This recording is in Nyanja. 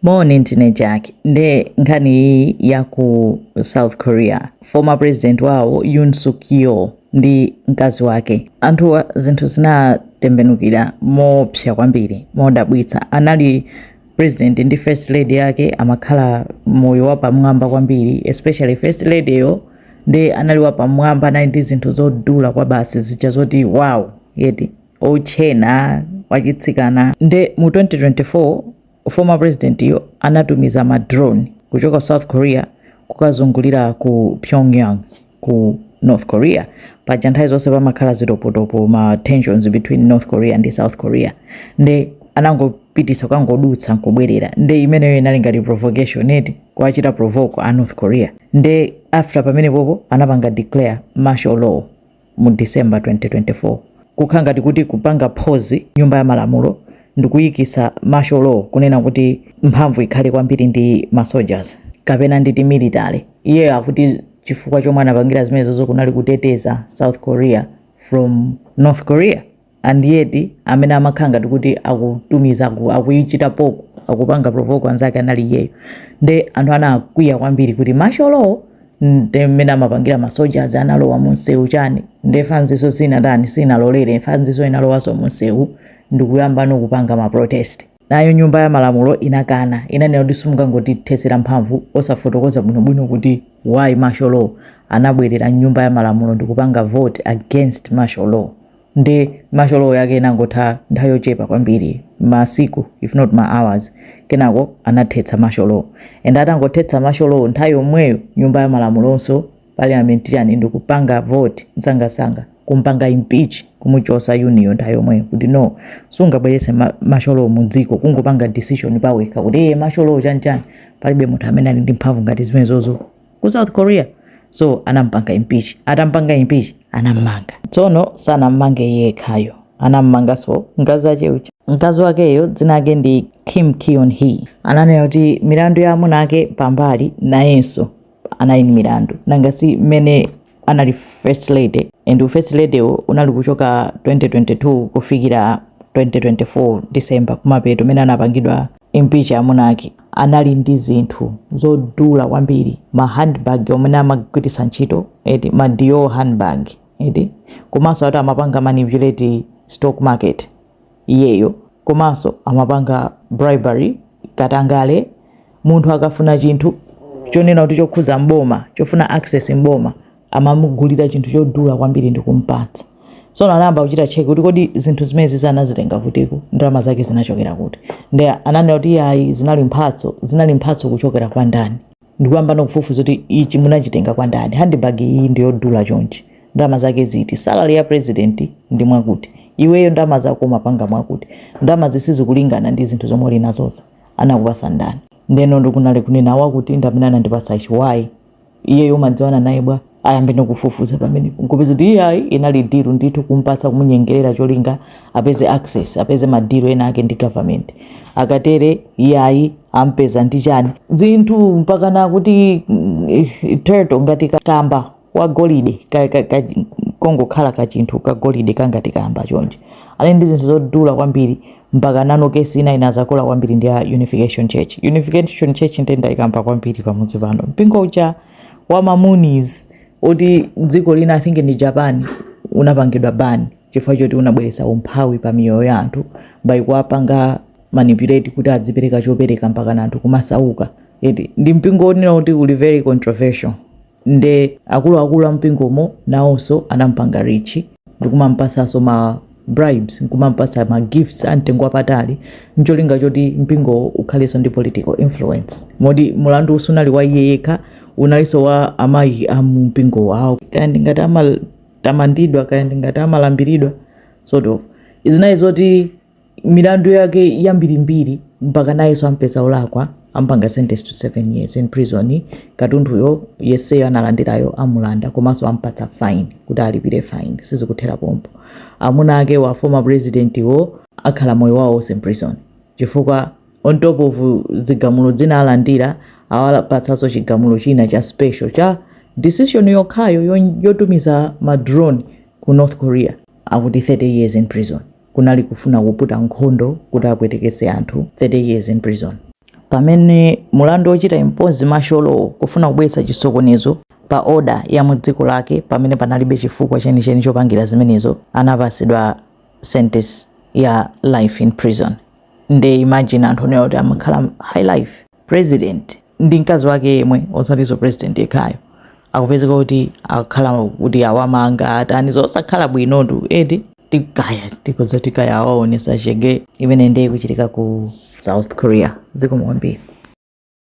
Moni ndine Jack nde nkhani iyi ya ku South Korea former president wawo Yoon Suk Yeol ndi mkazi wake anthuwa zinthu zinatembenukira moopsa kwambiri modabwitsa anali president ndi first lady yake amakhala moyo wapamwamba kwambiri especially first lady yo nde anali wapamwamba anali ndi zinthu zodula kwa basi zija zoti wow eti otchena wachitsikana nde mu 2024 Former president yo anatumiza ma drone kuchoka ku South Korea kukazungulira ku Pyongyang ku North Korea. Paja nthawi zonse pamakhala zitopotopo ma tensions between North Korea ndi South Korea. Nde anangopitisa kukangodutsa nkubwerera. Nde imeneyo inali ngati provocation eti kuwachita provoke a North Korea. Nde after pamenepopo anapanga declare martial law. mu December 2024 kukhala ngati kuti kupanga pause nyumba ya malamulo ndikuyikitsa martial law kunena kuti mphamvu ikhale kwambiri ndi ma soldiers kapena nditi military. Iyeyo akuti chifukwa chomwe anapangira zimenezozo kunali kuteteza South Korea from North Korea. and yet amene amakhala ngati kuti akutumiza akuichita poko akupanga provoke anzake anali iyeyo nde anthu anakwiya kwambiri kuti martial law nde mmene amapangira ma soldiers analowa munsewu chani nde fanziso sinatani sinalolere fanziso inalowaso munsewu ndikuyambano kupanga maprotest Nayo nyumba ya malamulo inakana, inanena kuti simungangotithesera mphamvu osafotokoza bwino bwino kuti why martial law, anabwerera mnyumba ya malamulo ndikupanga vote against martial law nde martial law yake inangotha nthawi yochepa kwambiri masiku if not ma hours kenako anathetsa martial law and atangothetsa martial law nthawi yomweyo nyumba ya malamulonso parliament chani ndikupanga vote msangamsanga kumpanga impeach kumuchosa Yoon yo nthayomweyo kuti no sungabwerese ma, martial law mudziko kungopanga decision pawekha kuti ee martial law chani chani palibe munthu amene ali ndi mphamvu ngati zimenezozo ku south korea so anampanga impeach atampanga impeach anammanga tsono sanammange yekhayo anammangaso mkazi wake uja mkazi wakeyo dzina lake ndi Kim Keon Hee ananena kuti milandu ya amuna ake pambali nayenso anali ndi milandu nanga si mmene anali first lady and u first lady wo unali kuchoka 2022 kufikira 2024 December kumapeto mene anapangidwa impeach amuna ake anali ndi zinthu zodula kwambiri ma handbag omwe amagwiritsa ntchito eti ma Dior handbag eti komanso ati amapanga manipulate stock market iyeyo komanso amapanga bribery, katangale, munthu akafuna chinthu chonena kuti chokhuza mboma chofuna access mboma amamugulira chinthu chodula kwambiri ndi kumpatsa so anayamba kuchita check kuti kodi zinthu zimenezi anazitenga kutiko ndalama zake zinachokera kuti nde ananena kuti ayi zinali mphatso zinali mphatso kuchokera kwa ndani ndikuyambano kufufuza kuti ichi munachitenga kwa ndani handbag iyi ndiyodula chonchi ndalama zake ziti salary ya president ndi mwakuti iweyo ndalama zako umapanga mwakuti ndalama zi sizikulingana ndi zinthu zomwe uli nazoz anakupasa ndani ndeno ndi kunali kunena wakuti ndamene anandipasa ichi why iyeyo umadziwana naye bwa ayambe nokufufuza pamenepo nkupeza kuti iyayi inali deal ndithu kumpatsa kumunyengerera cholinga apeze access apeze ma deal ena ake ndi government akatere iyayi ampeza ndi chani zinthu mpaka nakuti mm, eh, turtle ngati kamba wa golide ka, ka, ka, kongokhala kachinthu kagolide kangati kamba chonje ali ndi zinthu zodula kwambiri mpaka nanso case ina inadzakula kwambiri ndi ya unification church unification church ndinaikamba kwambiri pamudzi pano mpingo uja wa ma Moonies oti dziko lina i think ndi japan unapangidwa ban chifukwa choti unabweretsa umphawi pa miyoyo ya anthu by kuwapanga manipulate kuti adzipereka chopereka mpaka na anthu kumasauka eti ndi mpingo onena kuti uli very controversial nde akuluakulu a mpingomo nawonso anampanga reach ndikumampasaso ma bribes nkumampatsa ma gifts amtengo wapatali ncholinga choti mpingowo ukhalenso ndi political influence. Moti mulanduwu sunali wa iye yekha, unalinso wa amayi a mumpingo wawo. Kaya ndi ngati amatamandidwa kaya ndi ngati amalambiridwa sort of, zinali zoti milandu yake yambirimbiri mpaka nayenso ampeza olakwa. amupanga sentence to 7 years in prison katunduyo yeseyo analandirayo amulanda komanso ampatsa fine kuti alipire fine sizikuthera pompo amuna ake wa former president wo akhala moyo wawo wonse mprison chifukwa on top of zigamulo zina alandira awapatsanso chigamulo china cha special cha decision yokhayo yotumiza madrone ku north korea akuti 30 years in prison kunali kufuna kuputa nkhondo kuti apwetekese anthu 30 years in prison. Pamene mulandu wochita impose martial law kufuna kubweretsa chisokonezo pa order ya mu dziko lake pamene panalibe chifukwa chenicheni chopangira zimenezo anapasidwa sentence ya life in prison nde imagine anthu onena kuti amakhala high life. president ndi mkazi wake yemwe osatiso president yekhayo akupezeka kuti akhala kuti awamanga atani zosakhala bwinotu eti ti kaya tikuti kaya awaonesa chete imene ndiye ikuchitika ku south korea zikomo kwambiri